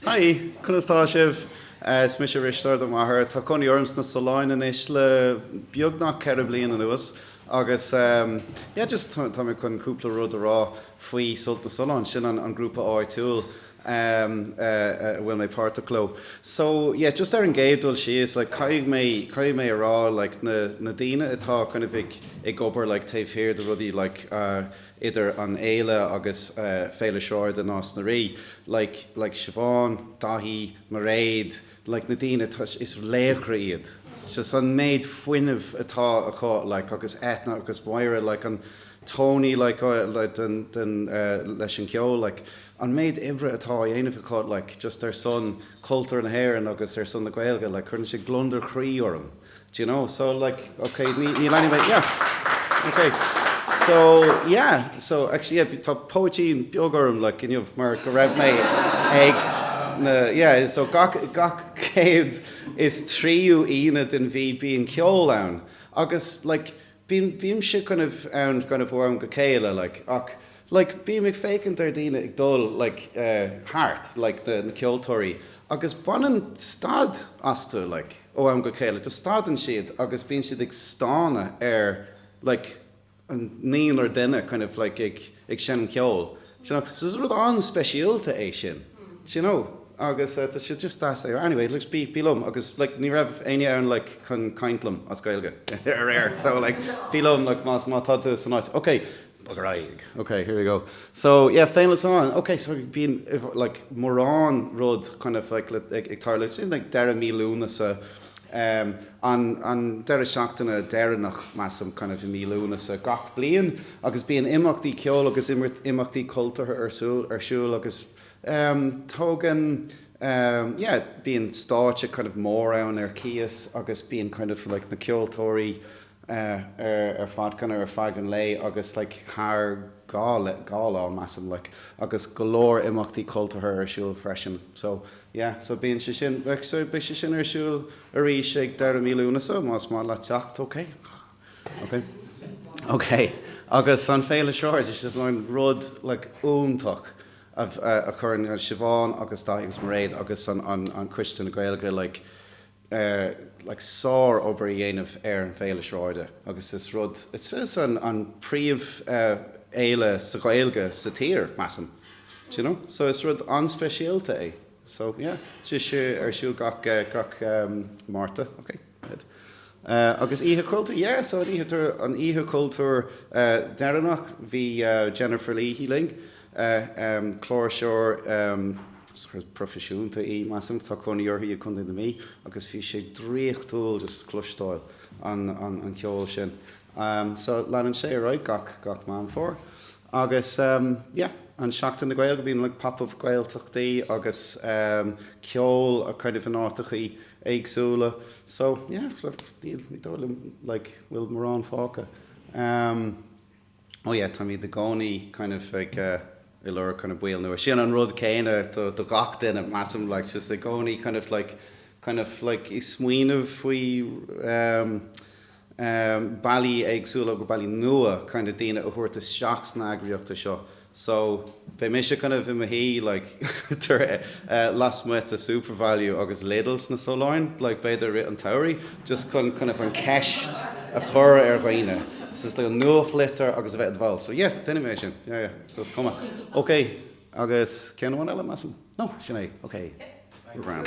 Hi, conas tá sibh? Is mise Risteárd, Ó Meachair. Tá cónaí orm sna Solláin anois le beagnach ceithre bliain anuas agus yeah just tá mé chun cúpla rud a rá faoi Sult na Sollán, sin an grúpa áitiúil a bhfuil mé páirteach leo. So yeah just ar an gcéad dul síos like caithfidh mé caithfidh mé a rá like na daoine atá kind of ag obair like taobh thiar de rudaí like, idir an fhéile agus Féile Sráide Nás na Ríogh like like Siobhán, Daithí, Mairéad like na daoine tá is laochra iad just an méid fuinnimh atá acu like agus Eithne agus Moira like and Tony like like den den leis an cheol like an méid oibre atá á dhéanamh acu like just ar son cultúr na hÉireann agus ar son na Gaeilge like cuireann sé gliondar chroí orm. do you know so like ok níl anyway ok so yeah so actually yeah tá póitín beag orm like inniu mar go raibh mé ag na yeah so gach gach céad is tríú Aoine den mhí bíonn ceol ann agus like bím, bímse kind of ann kind of ó am go chéile like ach like bím ag féachaint ar daoine ag dul like thart like na, na ceoltóirí agus baineann stad astu like ó am go chéile just stadann siad agus bíonn siad ag stánadh ar like an naonúr duine kind of like ag ag seinm ceoil you know so is rud an-speisialta é sin do you know agus tá sé just deas é anyway like bí bí liom agus like ní raibh éinne ann like chun caint liom as Gaeilge aréir so like bí liom like más má tá tú san áit ok bog ar aghaidh ok here we go so yeah Féile na Sollán ok so bíonn like mórán rud kind of like ag tarlú sin ag deireadh mí Lúnasa An deireadh seachtaine deireanach, measaim, kind of i mí Lúnasa gach bliain agus bíonn imeachtaí ceoil agus imeachtaí cultúrtha ar siúl agus tógann yeah bíonn stáitse kind of mór ann ar cíos agus bíonn kind of like na ceoltóirí, ar fad kind of ar feadh an lae agus like thar dhá lá measaim like agus go leor imeachtaí cultúrtha ar siúl freisin so yeah so bíonn sé sin like so beidh sé sin ar siúl arís ag deireadh mí Lúnasa más maith leat teacht ok ok ok agus an Féile Sráide is just an rud like iontach a a chuireann Siobhán agus Daithí agus Mairéad agus an an coiste na Gaeilge like like sár obair a dhéanamh ar an Féile Sráide agus is rud it's is an an príomhfhéile sa Ghaeilge sa tír measaim d'you know so is rud an-speisialta é so yeah sé sé ar siúl gach gach Márta okay right agus Oíche Chultúir yeah so an oíche tar an Oíche Chultúir deireanach bhí Jennifer Leahy linn cláirseoir Scoil proifisiúnta í measaim, tá cónaí uirthi i gContae na Mí agus bhí sé draíochtúil just cloisteáil an cheoil sin. So leanann sé ar aghaidh gach gach Meán Fómhair agus yeah an Seachtain na Gaeilge bíonn like pop up Gaeltachtaí agus ceol kind of in áiteachaí éagsúla so yeah ní dóigh liom like bhfuil mórán fágtha. oh yeah táimid i gcónaí kind of ag ag lorg kind of baill nua. Sin an rud céanna do do gach duine measaim like just i gcónaí kind of like kind of like ag smaoineamh faoi ehm ehm bealaí éagsúla nó bealaí nua kind of daoine a thabhairt isteach sna eagraíochta seo. so beidh mise kind of i mo shuí like tar eh lasmuigh de Supervalu agus Lidl sna Solláin like b'fhéidir i rith an tsamhraidh just chun kind of an cheist a chur ar dhaoine so is like an nuachtlitir agus a bheith i do bhall so yeah déanfaidh mé é sin yeah yeah so is cuma ok agus ceann amháin eile measaim no sin é ok we're grand.